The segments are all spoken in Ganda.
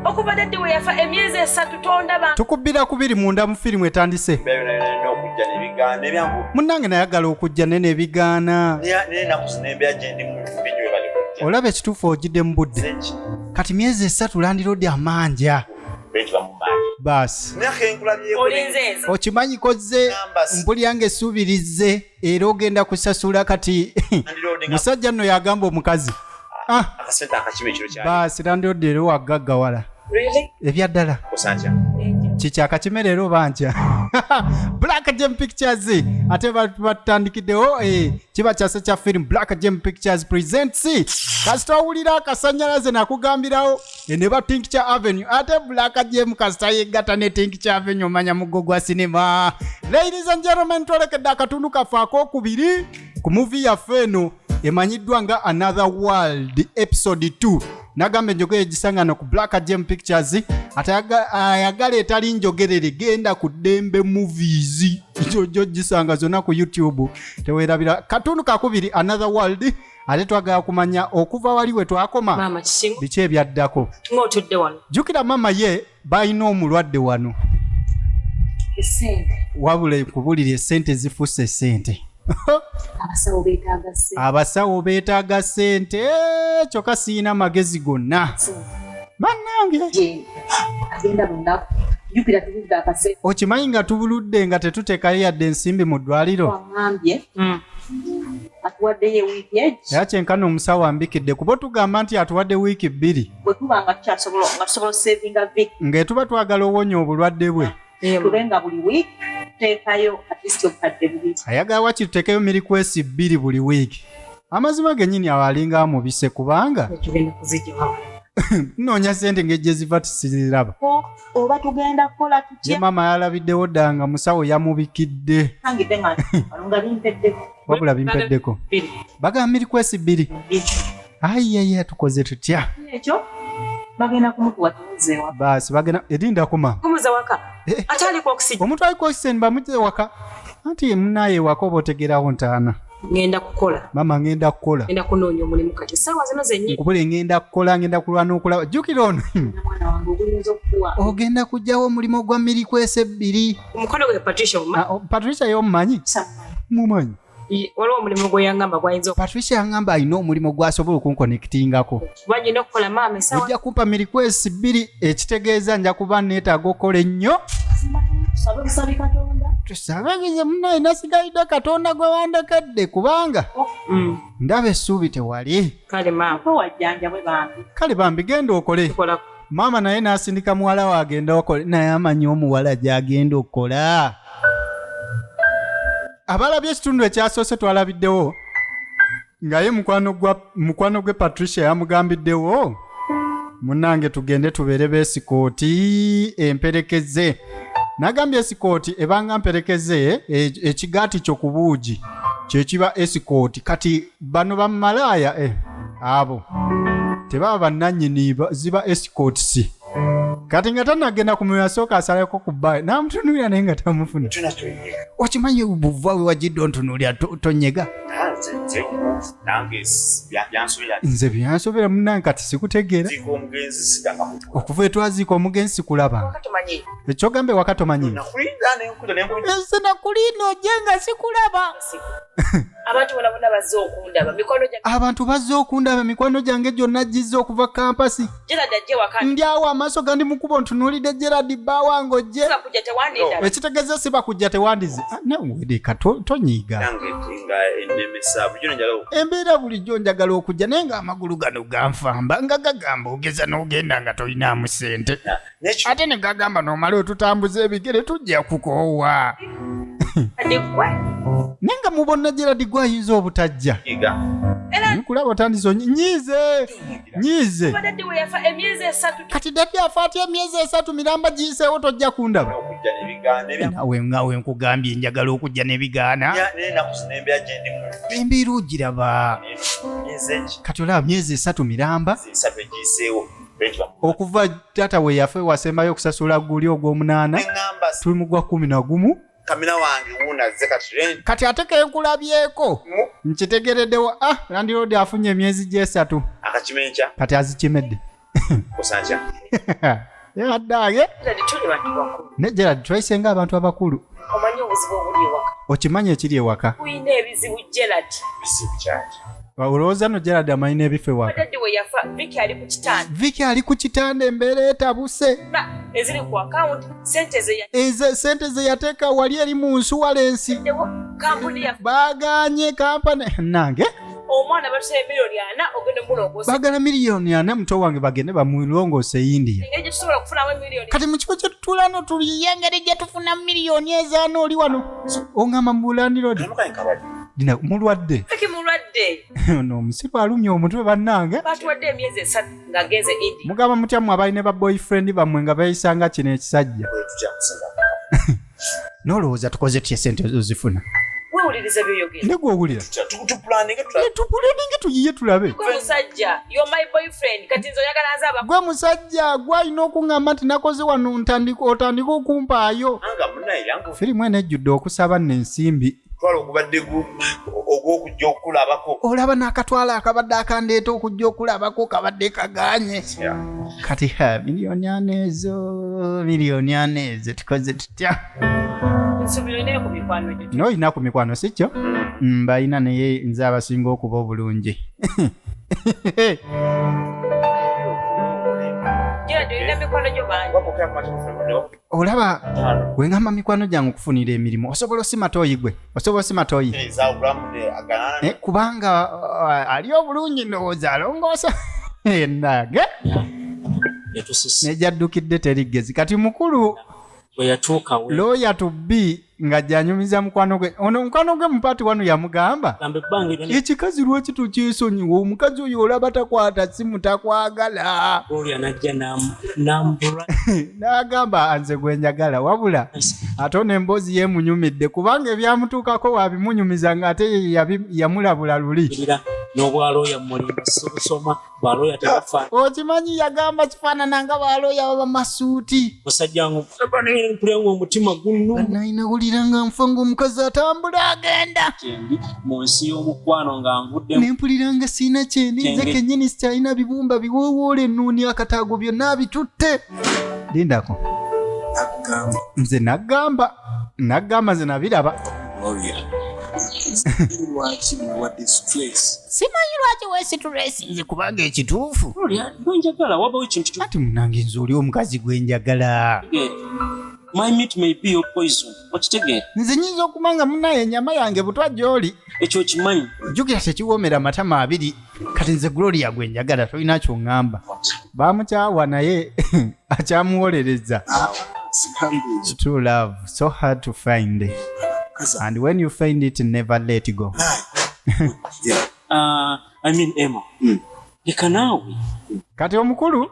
okuva daddi we yafa emyezi esatu tondaba tukubbira kubiri munda mu firimu etandise munnange nayagala okujja naye nebigaana olaba ekituufu ogidde mu budde kati myezi esatu landiroodi amanja baasi okimanyi kozze mbulyange esuubirizze era ogenda kusasula kati musajja nno yagamba omukazi ah, ah, baasi landiodi era wagaggawala ebyaddala kikyakakime leero banja black gem pictures ate batandikiddewo eh, kiba kyase kya film black gem pictures presents kasita owulira akasanyalaze nakugambirawo e ne ba tincture avenue ate black jemu kasita yeggata ne tincture avenue omanya muggo gwa sinema ladies and gentlemen twolekedde akatundu kaffe akokubiri ku muvi yaffe eno emanyiddwa nga another world episode 2 nagamba enjogera egisangana ku black gem pictures ate aga- ayagala etali njogerere genda ku dembe movies jojo gisanga zonna ku youtube tewerabira katundu kakubiri another world ate twagala kumanya okuva wali we twakoma biki ebyaddako jjukira maama ye balina omulwadde wano wabula kubulira esente zifuuse esente abasawo beetaaga sente eh, kyokka siyina magezi gonna bannange okimanyi nga tubuludde nga tetutekayo yadde ensimbi mu ddwaliro atuwaddeyo ewiiki egi era kyenkana omusawo ambikidde kuba otugamba nti atuwadde wiiki bbiri bwe tuba nga tukyasobola nga tusobola osevinga vik ng'etuba twagala owonya obulwadde bwe tube nga buli wiiki tuteekayo atist obukadde bubiri ayagala wakiri tuteekeyo mirikwesi bbiri buli wiiki amazima genyini awo alinga amubise kubanga noonya sente ngejjeziva tisiziraba oba tugenda kukola tutye maama yalabiddewo dda nga musawo yamubikidde wabula bimpeddeko bagamba miri kwesi bbiri ayiyaya tukoze tutya ekyo bagenda kumukuwa tuzewa basi bagenda edinda kuma kumuza waka eh. atali kwa oxygen omuntu ali kwa oxygen bamuze waka anti munaye wako botegerawo ntaana ngenda kukola mama ngenda kukola ngenda kunoonya omulimu kati saawa zino zenyini nkubule ngenda kukola ngenda kulwana okulaba jukira ono ogenda kujjawo omulimu ogwa miri kwesa ebbiri omukono gwe patricia ah, oh, patricia yomumanyi mumanyi waliwo omulimu gweyangamba gwayinza patricia yangamba alina omulimu gwasobola okunkonektingako ojja kumpa mirikwesi bbiri ekitegeeza nja kuba neetaaga okukola ennyo tusabagize munaye nasigalidde katonda gwe wandekedde kubanga oh, mm. ndaba essuubi tewali kale bambi genda okole maama naye n'asindika muwala we agenda okole naye amanyi omuwala gy'agenda okukola abalabye ekitundu ekyasoose twalabiddewo nga ye mukwano gwa mukwano gwe patricia yamugambiddewo munnange tugende tubeere beesikooti emperekeze nagambye esikooti ebanga mperekeze e- ekigaati kyo ku buugi kyekiba esikooti kati bano bamalaaya eh, abo tebaba bannanyini ba- ziba esikootisi kati nga tanagenda ku myoyo asooka asaleko ku bbayo n'amutunuulira naye nga tamufuna okimanyi buva we wagidde ontunuulira tonyega nze byansobera munange kati sikutegeera okuva etwaziika omugenzi sikulabanga ekyogamba ewaka tomanyi nze nakuliina oje nga sikulaba abantu bona bona bazze okundaba mikwano gyange abantu bazze okundaba mikwano gyange gyonna gizze okuva kampasi gerard ajje waka ndi awo amaaso gandi mu kubo ntunuulidde gerard bba wange ojje bakujja tewandinda ekitegeeza si bakujja tewandize Ah, nawe leka to- tonyiiga nange nga enemesa bujo nenjala embeera bulijjo njagala okujja naye ng'amagulu gano ganfamba nga gagamba ogeza n'ogenda nga tolinaamu ssente ate ne gagamba nomala otutambuza ebigere tujja kukoowa naye nga mubonna geradi gwe ayinza obutajja nkulaba otandise onyi- nyiize nyiize kati daddi afa atya emyezi esatu miramba giyiseewo tojja kundaba nawe nawe nkugambye njagala okujja nebigaana embeera ogiraba kati olaba myezi esatu miramba okuva taata we yafe wasembayo okusasula guli ogwomunaana tuli mugwa kumi nagumu kamina wange wunazze kati rent kati ate kenkulabyeko nkitegereddewo ah landiroodi afunye emyezi gyesatu akakimenkya kati azikimedde kusankya yaddaage ne gerard twayise nga abantu abakulu omanyi obuzibu obuli ewaka okimanyi ekiri ewaka olina ebizibu gerard bizibu kyaki olowooza no gerald amanyi n'ebifa ewaka viki ali ku kitanda embeera etabuse sente ze yateeka wali eri mu nsuwalensi baaganye kampani nange omwana batusaba miliyoni ana ogenda mulongosa bagala miliyoni ana muto wange bagende bamulongosa eyindiya kati mukifo kyetutulano tuliye engeri gyetufuna miliyoni ezaana oli wano ongamba mubulandirodi dina mulwadde eki mulwadde ono omusiru alumya omutwe bannange batuwadde emyezi esatu ng'agenze indi mugamba mutya mwe abalina ba boyfriend bammwe nga beeyisanga kino ekisajja n'olowooza tukoze tya esente ozifuna wewuliriza byoyogera ne gwowulira tupuleninge tuyiye tulabe gwe musajja yo my boyfriend kati nze oyagala nze aba gwe musajja gwe alina okuŋŋamba nti nakoze wano ntandika otandika okumpaayo firimu eno ejjudde okusaba nensimbi twala ogubadde ogwokujja okulabako olaba nakatwala akabadde akandeeta okujja okulabako kabadde kaganye kati ha miliyoni ana ezo miliyoni ana ezo tukoze tutya noyina ku mikwano sikyo mm, balina naye nze abasinga okuba obulungi olaba wengamba mikwano gyange okufunira emirimu osobola osima toyi gwe osobola osima toyi eh, kubanga uh, ali obulungi ndowooza alongoosa enage nejaddukidde terigezi kati mukulu looya tubbi nga janyumiza mukwano gwe ono mukwano gwe mupaati wano yamugamba ekikazi lwaki tokyesonyiwa omukazi oyo olaba takwata simu takwagala nagamba anze gwenjagala wabula ate ono emboozi yemunyumidde kubanga ebyamutuukako wabimunyumiza nga ate yamulabula luli baloya tebafa okimanyi yagamba kifaanana nga baloya baba masuuti musajja nkulenga omutima gunnunayinawulira nga nfa ngaomukazi atambula agenda kyendi mu nsi y'omukwano nga nvudde nempulira nga siina kyendi nze kenyini sikyalina bibumba biwoowoola ennuuni akataago byonna abitutte lindako nze nagamba naggamba nze nabiraba simanyi lwaki wesitulesi nze kubanga ekituufu kati munange nze oli omukazi gwe njagala nze nyinza okuba nga munaye enyama yange butwa gyoli ekyo kimanyi jjukira tekiwoomera amatama abiri kati nze gloria gwe njagala tolina kyoŋŋamba baamukyawa naye akyamuwolereza true love so hard to find it. and when you find it never let go uh, i mean emma mm. leka naawe kati omukulu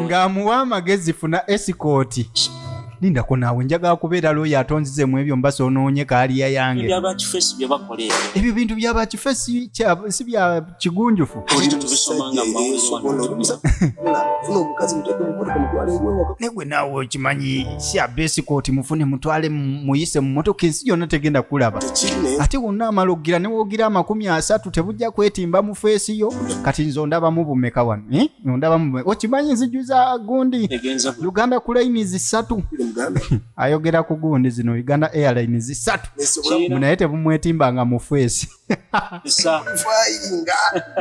ng'amuwa amagezi funa esikooti lindako naawe njagala kubeera looyo atonzize mu ebyo mbasa onoonye kaaliya yange ebyo bintu bya bakifesi si bya kigunjufu negwe naawe okimanyi si abeesi kooti mufune mutwale muyise mu motoka ensi yonna tegenda kulaba ate wonna amala okugira ne woogira amakumi asatu tebujja kwetimba mu feesi yo kati nze ondabamu bumeka wano eh? ondabamu okimanyi nziju za gundi uganda ku layini zisatu ayogera ku gundi zino uganda airline zisatu naye tebumwetimbanga mu feesi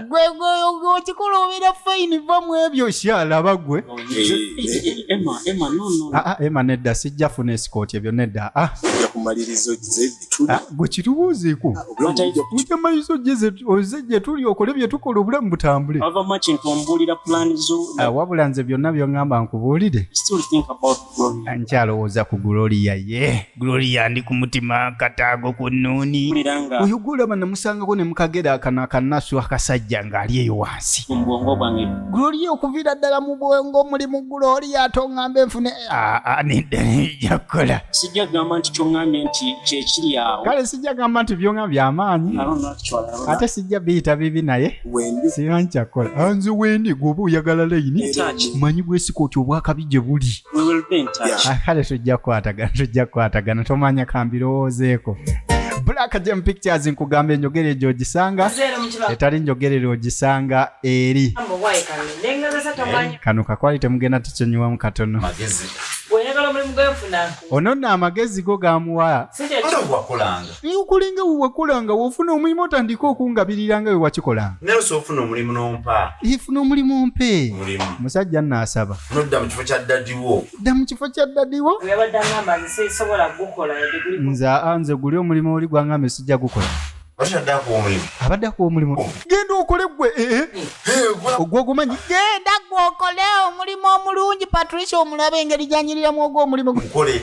gwegweokikuluubira fayini va mu ebyo kyalaba gwe ema nedda sijja funa esikooti ebyo nedda gwe kitubuuziku ujja mayizo oze gye tuli okole bye tukola obulamu butambule wabula nze byonna byoŋŋamba nkubuulire nkyalowooza ku gloria ye gloria ndi ku mutima kataago ku nnuuni oyo gwolaba namusangako ne mukagera akano akanasu akasajja ng'ali eyo wansi gloria okuviira ddala mu bwongo mulimu gloria ate oŋŋambe nfune nedda nejja kukola sijja gamba nti kyoŋŋambye nti kyekiri awo kale sijja gamba nti byoŋŋambye amaanyi ate sijja biyita bibi naye wendi singa nkyakola Ah, nze wendi gwoba oyagala layini In touch. manyi gwesika oti obwakabi gye buli We will be in touch. Yeah. Ah, kale tujja kukwatagana tujja kukwatagana tomanya kambirowoozeeko black jam pictures nkugamba enjogera egyo ogisanga Zero mu kibaga. etali njogerera ogisanga eri Mambo wayi kano. Nengezesa tomanya. kano kakwali temugenda tukinyuwamu katono magezi Bw'oyagala omulimu gwe nfuna. ono nno amagezi go gamuwa Si kye Wala wakulanga. naye okolenga wewakolanga wofuna omulimu otandika okungabirira nga wewakikolanga naye osobola ofuna omulimu nompa ifuna omulimu ompe mulimu musajja naasaba nodda mu kifo kya ddadiwo dda mu kifo kya ddadiwo yabadde agamba nze sisobola gukola nze aa nze guli omulimu oli gwangamba sijja gukola abadde akuwa omulimu oh. genda okole gwe eh, eh. Eh, ogwo ogumanyi genda gwe okole omulimu omulungi patricia omulabe engeri gyanyiriramu ogwo omulimu gwe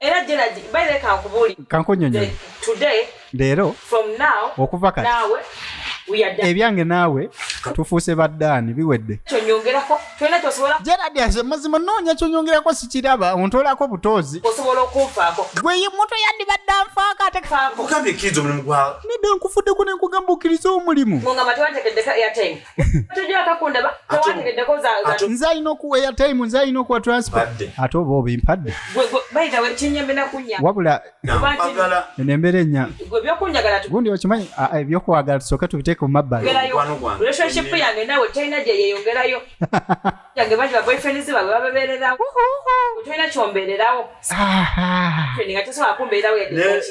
era Gerald by the kankubuli kankunyonyo today lero from now okuva kati nawe ebyange naawe tufuuse baddaani biwedde gerard aze mazima noonya kyonyongerako sikiraba ontoolako butoozi gweye muto yandibadde anfaako atenedda nkufuddeko nenkugamba okkiriza omulimu nze alina okuweya time nze alina okuwa transport ate oba obimpadde wabula eno embeera enya gundi okimanyi ebyokwagala tusooke tubiteeke mu mabbali yange bangi baboyfriends babwe bababeererawo tolina kyombeererawo nga tosobola kumbeerawo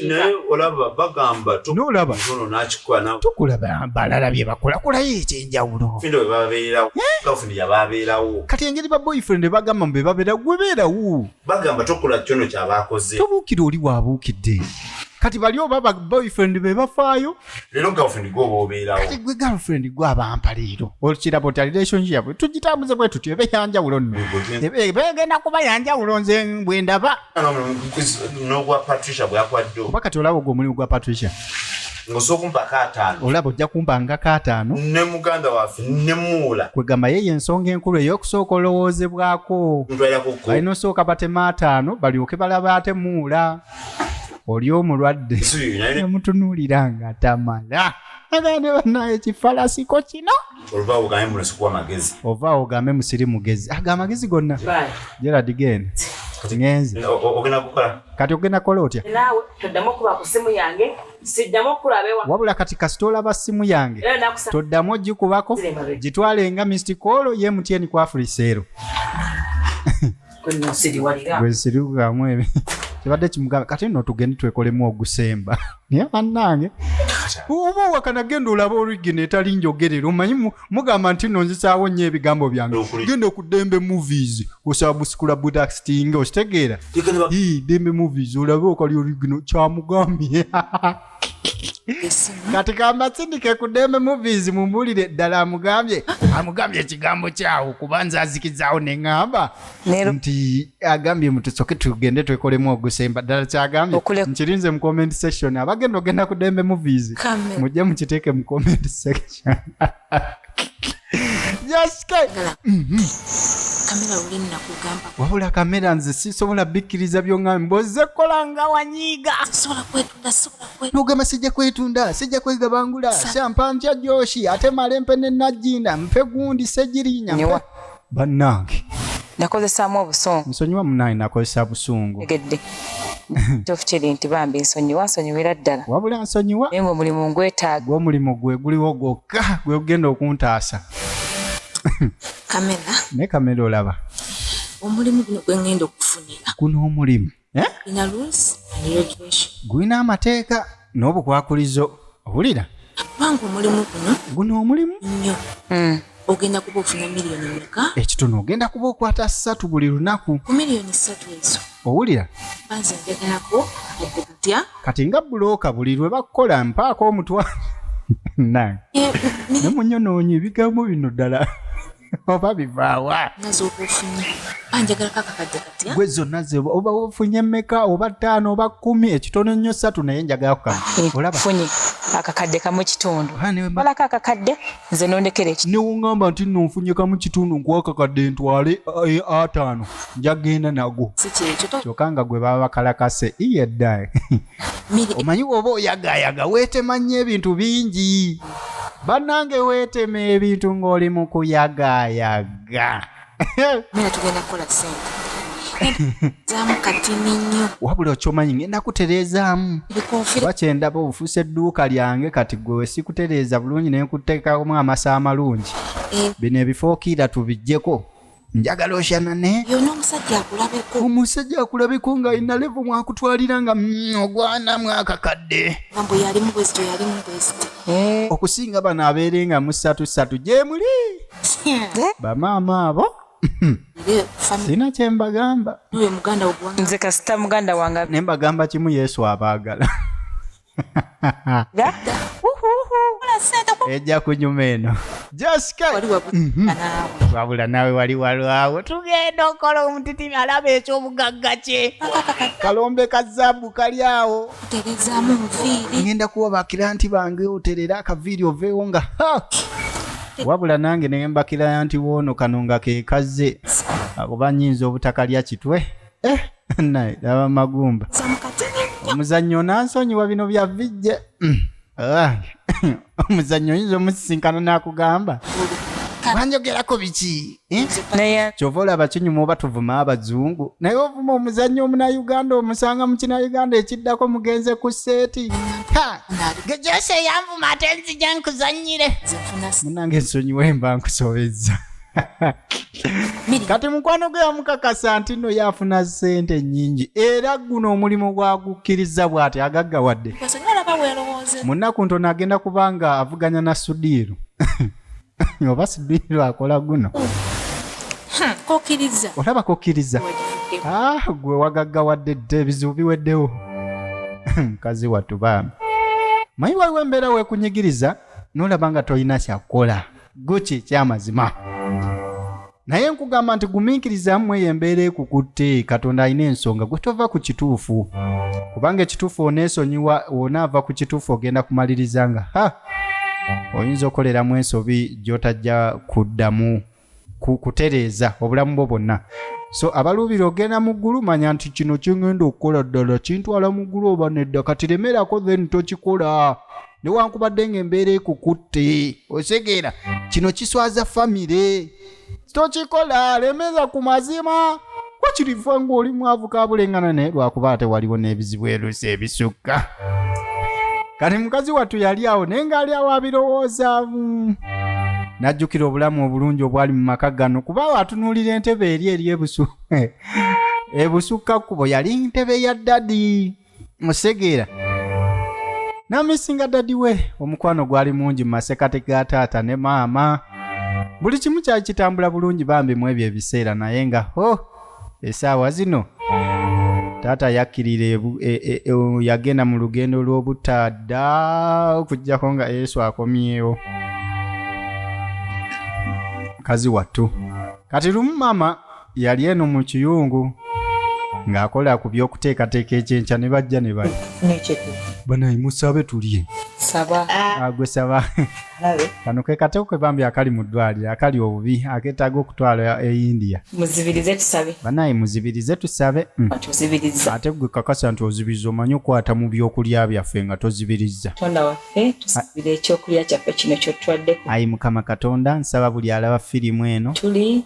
naye olaba bagamba nolaba tukulaba balala bye bakola kulayo ekyenjawulo kati engeri ba boyfriend bagamba mbe babeera gwe beerawo bagamba tokola kyono kyabakoze tobuukira oli wabuukidde kati bali oba ba boyfriend be bafaayo lero girlfriend gwe oba obeerawo gwe girlfriend gwe abampa leero okiraba oti relationship tugitambuze bwe tutyo ebe yanjawulo nno egenda kuba yanjawulo nze bwe ndaba n'ogwa patricia bwakwadde oba kati olaba ogwo omulimu gwa patricia ngosookumpako ataano olaba ojja kumpangako ataano ne muganda waffe ne muula kwegamba ye yensonga enkulu ey'okusooka olowoozebwako alina osooka batema ataano balyoke balaba ate muula oli omulwadde yamutunuulira nga tamala agane banaye kifalasiko kino ova ogambe musiri mugezi aga amagezi gonna gerard gen ngenze kati ogenda kola otya wabula kati kasita olaba simu yange toddamu ogikubako gitwale nga mistikolo ye mutyenikwafuliseero gwesiriwamu ebe kibadde kimugamba kati no tugende twekolemu ogusemba naye bannange oba owakana genda olaba origina etali njogerera omanyi mugamba nti no nzisaawo nnyo ebigambo byange genda okuddembe movies osaba busikula budastinga okitegeera dembe movies olabe okali origina kyamugambye kati kambasindike ku dembe movies mumbulire ddala amugambye amugambye ekigambo kyawo kuba nze azikizaawo neŋŋamba nti agambye mutusoke tugende twekolemu ogusemba ddala kyagambye nkirinze mu comment section abagenda ogenda ku dembe movies mujje mukiteeke mu comment section kamera luli nakugamba wabula kamera nze sisobola bikkiriza byoŋambi boze kola nga wanyiiga sisobola kwetunda sisobola kwetunda nogamba sijja kwetunda sijja kwegabangula Sa- shampa ntya joshi ate male mpe ne najjinda mpe gundi segirinya mpe- Newa. bannange nakozesaamu obusungu nsonyiwa munaye nakozesa busungu egedde kituufu kiri nti bambi nsonyiwa nsonyiwira ddala wabula nsonyiwa naye ngaomulimu ngwetaaga gwomulimu gwe guliwo gwokka gwe gugenda okuntaasa kamera naye kamera olaba omulimu guno gwe ngenda okufunira guno omulimu Eh? gulina amateeka n'obukwakulizo owulira kubanga omulimu guno guno omulimu nnyo hmm. ogenda kuba ofuna miliyoni meka ekitono ogenda kuba okwata ssatu buli lunaku ku miliyoni ssatu ezo owulira banze njagalako adde kutya kati nga bulooka buli lwe bakukola mpaako omutwalo nange ne munyonoonyi ebigambo bino ddala oba bivaawa gwe zonna oba ofunye meka oba ttaano oba kumi ekitono nnyo satu naye njagala kukafunye eh, akakadde kamu kitundu olako akakadde nze nondekera eki newongamba nti nno nfunye kamu kitundu nkuwa akakadde ntwale eh, ataano njagenda nago kyokka nga gwe baba bakalakase iyeddae omanyi woba oyagayaga wetema nnyo ebintu bingi bannange wetema ebintu ng'oli mu kuyagayaga wabula okyomanyi ngenda kutereezaamu kuba kyendaba obufuusa edduuka lyange kati gwe wesikutereeza bulungi nenkuteekamu amasa amalungi eh. bino ebifookiira tubijjeko njagala oshanane yona omusajja akulabeko omusajja akulabeko nga alina levo mwakutwalira nga mm, ogwana mwakakadde ambo yalimu bwezi teyalimu bwezi eh. okusinga bano abeere nga musatu satu gyemuli eh? bamaama abo sina kyembagamba nze kasita muganda wange nembagamba kimu yesu abaagala ejja kunyuma eno mhm. wabula nawe wali walwawo tugenda okola omutitimi alaba ekyobugagga kye kalombe ka zaabu kali awo ŋenda kuwa bakiranti bange oterera akaviiri oveewo nga wabula nange nembakiraya nti woono kano nga kekazze oba nyinza obutakalya kitwe eh, naye aba magumba omuzannyo onansonyiwa bino bya vijje mm. ah, omuzannyo oyinza omusisinkana n'akugamba banjogerako biki eh? kyova olaba kinyuma oba tuvuma abazungu naye ovuma omuzannyo omunauganda omusanga mu kinauganda ekiddako mugenze ku seeti gejosi eyanvuma ate nzija nkuzannyire munange ensonyiwa emba nkusobezza kati mukwano gwe yamukakasa nti no yafuna sente nyingi era guno omulimu gwagukkiriza bwati agaggawadde munaku ntono agenda kubanga avuganya na sudiiru oba sudiiru akola guno olaba kokkiriza ah, gwe wagaggawadde dde ebizibu biweddewo mukazi wattu bambi mayi waliwo embeera wekunyigiriza nolaba nga tolina kyakukola guki ekyamazima naye nkugamba nti gumiikiriza mmwe eyo embeera ekukutte katonda alina ensonga gwe tova ku kituufu kubanga ekituufu oneesonyiwa onaava ku kituufu ogenda kumaliriza nga ha oyinza okoleramu ensobi gy'otajja kuddamu kutereeza obulamu bwo bwonna so abaluubira ogenda mu ggulu manya nti kino kingenda okukola ddala kintwala mu ggulu oba nedda kati remerako then tokikola newankubadde nga embeera ekukutte osegeera kino kiswaza famire tokikola lemeza ku mazima wakiriva ng'oli mwavu kabulengana naye lwakuba ate waliwo n'ebizibu erusi ebisukka kati mukazi wattu yali awo naye ng'ali awo abirowoozaamu n'ajjukira obulamu obulungi obwali mu maka gano kuba awo atunuulira entebe eri eri ebusu ebusukka kkubo yali ntebe ya ddadi musegeera namisinga dadi we omukwano gwali mungi mu masekati ga taata ne maama buli kimu kyali kitambula bulungi bambi mu ebyo ebiseera naye nga ho oh, esaawa zino taata yakkirira e, e, e, yagenda mu lugendo lw'obutadda okuggyako nga yesu akomyewo mukazi wattu kati lumu maama yali eno mu kiyungu ng'akola ku by'okuteekateeka ekyenkya ne bajja ne bali nekyetu banaye musabe tulye saba agwe saba alabe kano ke kateko ke bambi akali mu ddwaliro akali obubi akeetaaga okutwala e india muzibirize tusabe banaye muzibirize tusabe mm. tuzibiriza ate gwe kakasa nti ozibiriza omanyi okukwata mu by'okulya byaffe nga tozibirizza katonda waffe tusabire ekyokulya kyaffe kino kyotwaddeko ayi mukama katonda nsaba buli alaba firimu eno tuli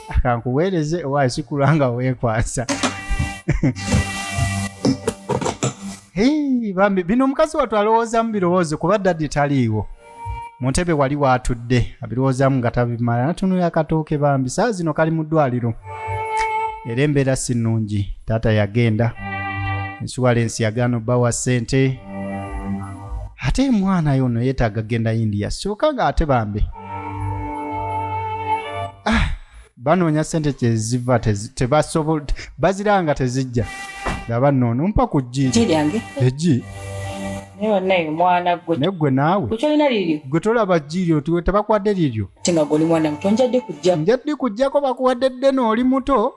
akankuweereze owa sikula nga weekwasa bambi bino omukazi watu alowoozamu birowoozo kuba daddi taliiwo mu ntebe wali waatudde abirowoozamu nga tabimala natunula akatooke bambi saa zino kali mu ddwaliro era embeera si nnungi taata yagenda ensuwalensi yagaana obbawa ssente ate mwana yono yeetaaga genda india sooka nga ate bambi ah, banoonya sente kyeziva tebasobola baziranga tezijja nga banoono mpa ku jjiri lyange egi negwe naawe gwe tolaba jjiryo tiwe tebakwadde liryo njadde kujjako bakuwadde ddene oli muto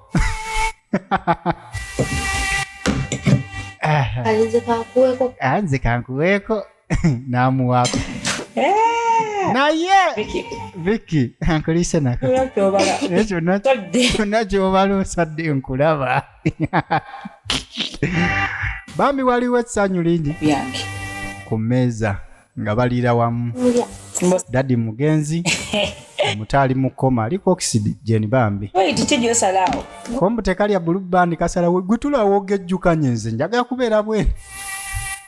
nze kankuweeko n'amuwaako eh! naye viki ankulise nakyonna kyobala osadde nkulaba bambi waliwo essanyu lingi ku mmeeza nga baliira wamu dadi mugenzi omutaali mu koma aliko oxygen bambi kombu tekalya bulu bandi kasalawo gutula woga ejjukanye nze njagala kubeera bwene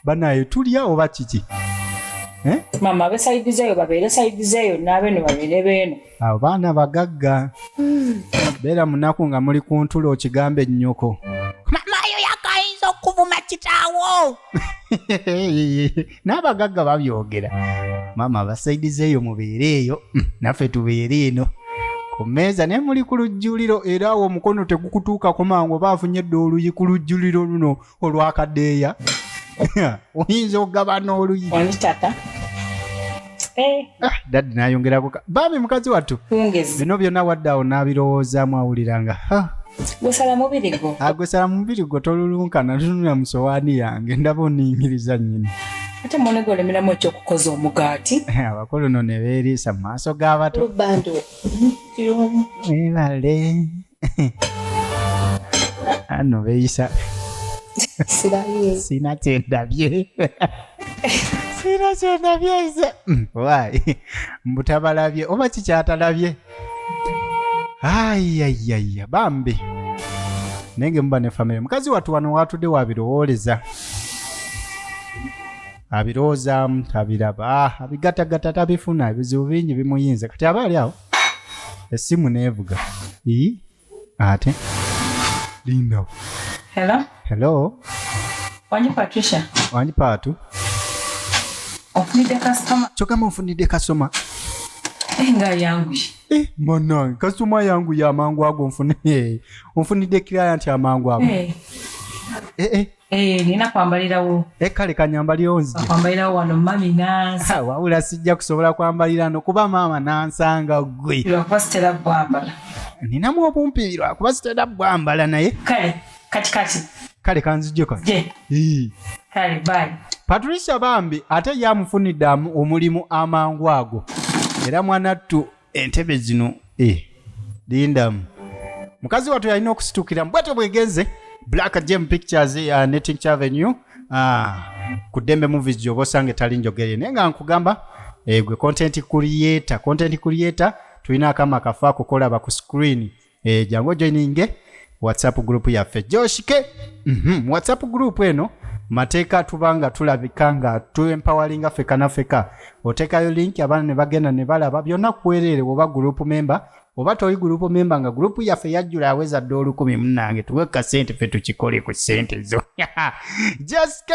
banaye tulya oba kiki eh? mama abe saidi zeyo babeere saidi zeyo nabeno babeere beeno abo baana bagagga hmm. beera munaku nga muli ku ntula okigambe nnyoko mama yo yakayinza okuvuma kitaawo n'abagagga babyogera maama abasaidiza eyo mubeere eyo mm, naffe tubeere eno ku mmeeza naye muli ku lujjuliro era awo omukono tegukutuukako mangu oba afunye dda oluyi ku lujjuliro luno olwakadeeya oyinza okugaba n'oluyi Eh. Ah, dadi nayongerako bambi mukazi wattu bino byonna wadde awo n'abirowoozaamu awuliranga gwesala mubiri gwo ah, gwesala mubiri gwo tolulunkana tunula mu sowaani yange ndaba oniyingiriza nnyini ate mwana gwe olemeramu ekyokukoza omugaati abakulu no ne beeriisa mu maaso g'abato webale ano beyisa sina kyendabye sina kyendabye nze wayi mbutabalabye oba kikyatalabye ayayaya bambi naye ngemuba ne famire mukazi watu wano watudde wabirowooleza abirowoozamu tabiraba ah, abigatagata tabifuna ebizibu bingi bimuyinze kati aba ali awo essimu neevuga ii ate lindawo hello hello wanji patricia wanji paatu ofunidde kasitoma kyogamba ofunidde kasitoma eh, nga yanguye eh, manange kasitoma yanguye amangu ago nfunidde eh, client amangu ago eh. Eh, eh. Eh, nina kwambalirawo e eh, kale kanyambaliwo nzikwambalirawo wano mami nansa wabula sijja kusobola kwambalira no kuba maama nansanga gwe lwakuba sitera bwambala ninamu obumpi lwakuba sitera bwambala naye kale kati kati kale kanzijjo ka kale bai patricia bambi ate yamufunidde omulimu amangu ago era mwanattu entebe zino eh, lindamu mukazi wattu yalina okusitukiramu bwetyo bwegenze black jam pictures uh, netinch avenue uh, ku dembe movies gyoba osanga etali njogere naye nga nkugamba eh, gwe content creator content creator tulina akama kafa kukolaba ku screen e, jangu ojoininge whatsapp group yaffe joshike mm -hmm. whatsapp group eno mateeka tuba nga tulabika nga tuempawalinga feka nafeka otekayo link abaana ne bagenda ne balaba byonna kuwereere woba group member oba toli gulupu memba nga gulupu yaffe yajjula aweza dda olukumi munange tuwe kasente fe tukikole ku sente zo jaske